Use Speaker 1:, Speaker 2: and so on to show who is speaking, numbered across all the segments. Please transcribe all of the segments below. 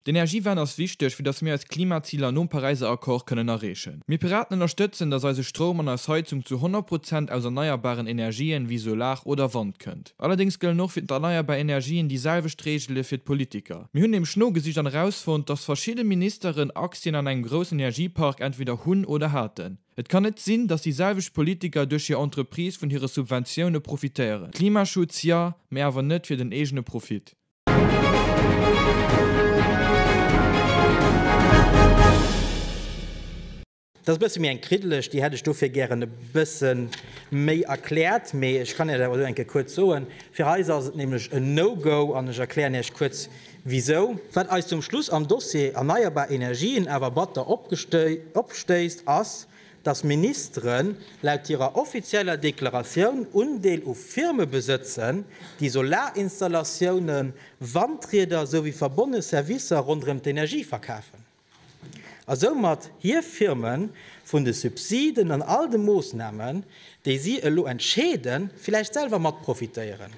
Speaker 1: D'Energiewend ass wichteg, fir datt mir eis Klimaziler nom Paräiser Accord kënnen erreechen. Mir Piraten ënnerstëtzen, datt eise Stroum an eis Heizung zu 100 Prozent aus erneierbaren Energien, wéi Solar oder Wand, kënnt. Allerdéngs gëllen och fir d'erneierbar Energien déi selwecht Reegele fir d'Politiker. Mir hunn nämlech nogesicht an erausfonnt, datt verschidde Ministeren Aktien an engem groussen Energiepark entweder hunn oder haten. Et kann net sinn, datt déi selwecht Politiker duerch hir Entreprise vun hire Subventioune profitéieren. Klimaschutz, ja, mä awer net fir den eegene Profit.
Speaker 2: Dat ass e bësse méi eng kriddeleg, déi hätt ech dofir gären e bësse méi erkläert. Mee ech kann Iech dat awer elo eng Kéier kuerz soen. Fir eis ass et nämlech en No-Go an ech erklären Iech kuerz wisou. Wat eis zum Schluss am Dossier erneierbar Energien awer batter opstéisst, ass, dass Ministeren laut hirer offizieller Deklaratioun Undeel u Firme besëtzen, déi Solaristallatiounen, Wandrieder esouwéi verbonne Servicer ronderëm d'Energie verkafen, a soumat hir Firme vun de Subsiden an all de Moossnamen, déi si elo entscheeden, villäicht selwer mat profitéieren.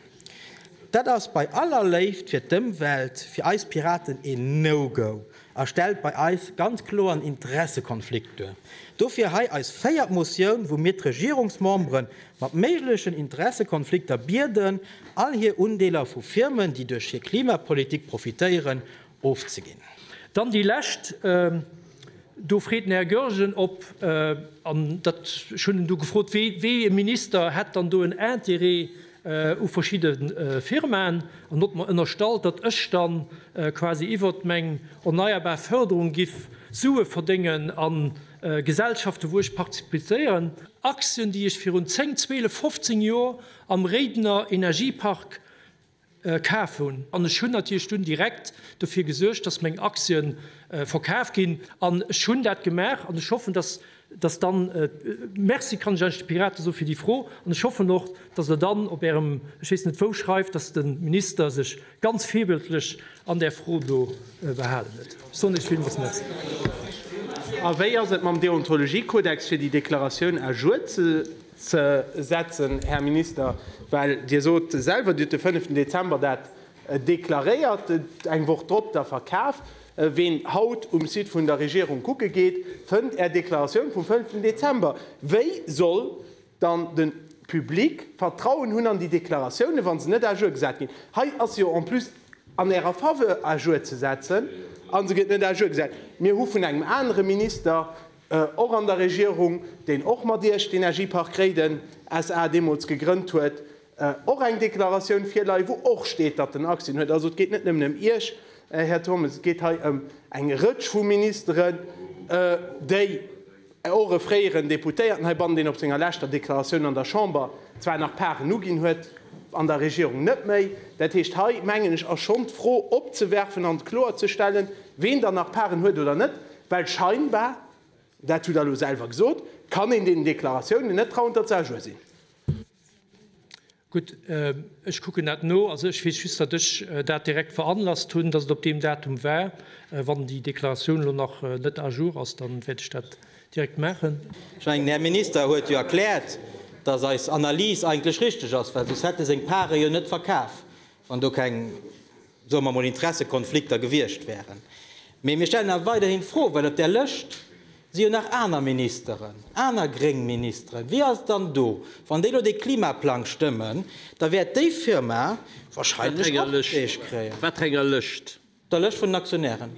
Speaker 2: Dat ass bei aller Léift fir d'Ëmwelt fir eis Piraten een No-Go a stellt bei eis ganz kloer en Interessekonflikt duer. Dofir hei eis véiert Motioun, wou mir d'Regierungsmembere mat méiglechen Interessekonflikter bieden, all hir Undeeler vu Firmen, déi duerch hir Klimapolitik profitéieren, ofzeginn. Dann déi
Speaker 3: lescht, do freet den Här Goergen, ob, an dat, ech hunn en do gefrot, wéi, wéi e Minister hätt dann do en Interêt u verschidde Firmaen, an huet mer ënnerstallt, datt ech dann quasi iwwert meng erneierbar Fërderung giff Sue verdéngen a Gesellschaften, wou ech partizipéieren, Aktien, déi ech virun 10, 12, 15 Joer am Réidener Energiepark kaf hun. An ech hun natirlech dun direkt dofir gesuergt dass meng Aktien verkaf gin. An ech hun dat gemaach an ech hoffen dass dass dann, Merci kann ech eigentlech de Piraten soen fir déi Fro an ech hoffen och dass der dann op ärem ech weess net wou schreift dass de Minister sech ganz virbildlech an där Fro do behalen huet. Ech soen iech villmools Merci. A
Speaker 4: wéi ass et mam Deontologiekodex fir déi Deklaratioun à jour ze. Ze setzen, Här Minister, well Dir sot selwer, Dir hutt de fënneften Dezember dat deklaréiert, eng Woch drop da verkaaft. Ween haut um Site vun der Regierung kucke geet, fënnt Är Deklaratioun vum fënneften Dezember. Wéi soll dann de Public Vertrauen hunn an déi Deklaratiounen, wa se net à jour gesat ginn? Hei ass se jo en plus an Ärer Faveur à jour ze setzen, a se gëtt net à jour gesat. Mir hu vun engem anere Minister och an der Regierung, deen och mat Iech d'Energiepark Réiden SA. deemools gegrënnt huet, och eng Deklaratioun virleien, wou och steet, datt en Aktien huet. Also et geet net nëmmen ëm Iech, Här Turmes, et geet hei ëm eng Rëtsch vu Ministeren, déi, och e fréieren Deputéierten heibannen, deen op senger leschter Deklaratioun an der Chamber zwar nach Paren uginn huet, an der Regierung net méi. Dat heescht, hei mengen ech ass schonn d'Fro opzewerfen an kloerzestellen, ween dann nach Paren huet oder net. Well scheinbar, dat hutt Der elo selwer gesot, kann een deenen Deklaratiounen net trauen, datt se à jour sinn. Gutt,
Speaker 3: ech kucken dat no. Also ech weess just, datt ech dat direkt veranlasst hunn, datt et op deem Datum war. Wann déi Deklaratioun elo nach net à jour ass, da wäert ech dat direkt maachen. Ech mengen, den Här Minister
Speaker 2: huet jo erkläert, datt eis Analys eigentlech richtig ass, well soss hätt e seng Pare jo net verkaf, wann do keng soe mer mol, Interessekonflikter gewiescht wären. Mee mir stellen awer weiderhin d'Fro, well op där Lëscht si jo nach aner Ministeren, aner gréng Ministeren. Wie ass dann do? Wann déi elo dee Klimaplang stëmmen, da wäert déi Firma wahrscheinlech och Deeg kréien. Wat enger Lëscht?
Speaker 5: Der Lëscht vun den
Speaker 2: Aktionären.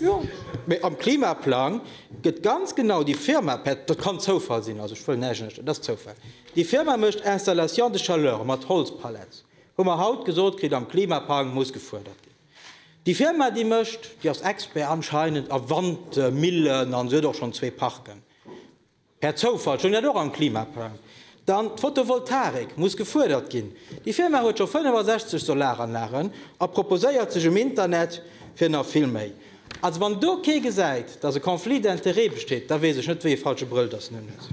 Speaker 2: Jo, mee am Klimaplang gëtt ganz genau déi Firma, dat kann Zoufall sinn, also ech wëll näischt, dat ass Zoufall, déi Firma mécht Installations de chaleur mat Holzpallets. Hu mer haut gesot kritt am Klimapang, muss gefuerdert ginn. Déi Firma déi mécht, déi ass Expert anscheinend a Wandmillen an se huet och schonn zwee Parken, per Zoufall stoung dat och am Klimaplang. Dann d'Fotovoltaik, muss gefuerdert ginn. Déi Firma huet scho 65 Solaranlagen a proposéiert sech um Internet fir nach vill méi. Also wann do kee gesäit, datt e Conflit d'intérêts besteet, da weess ech net wéi ee falsche Brëll datt en unhuet.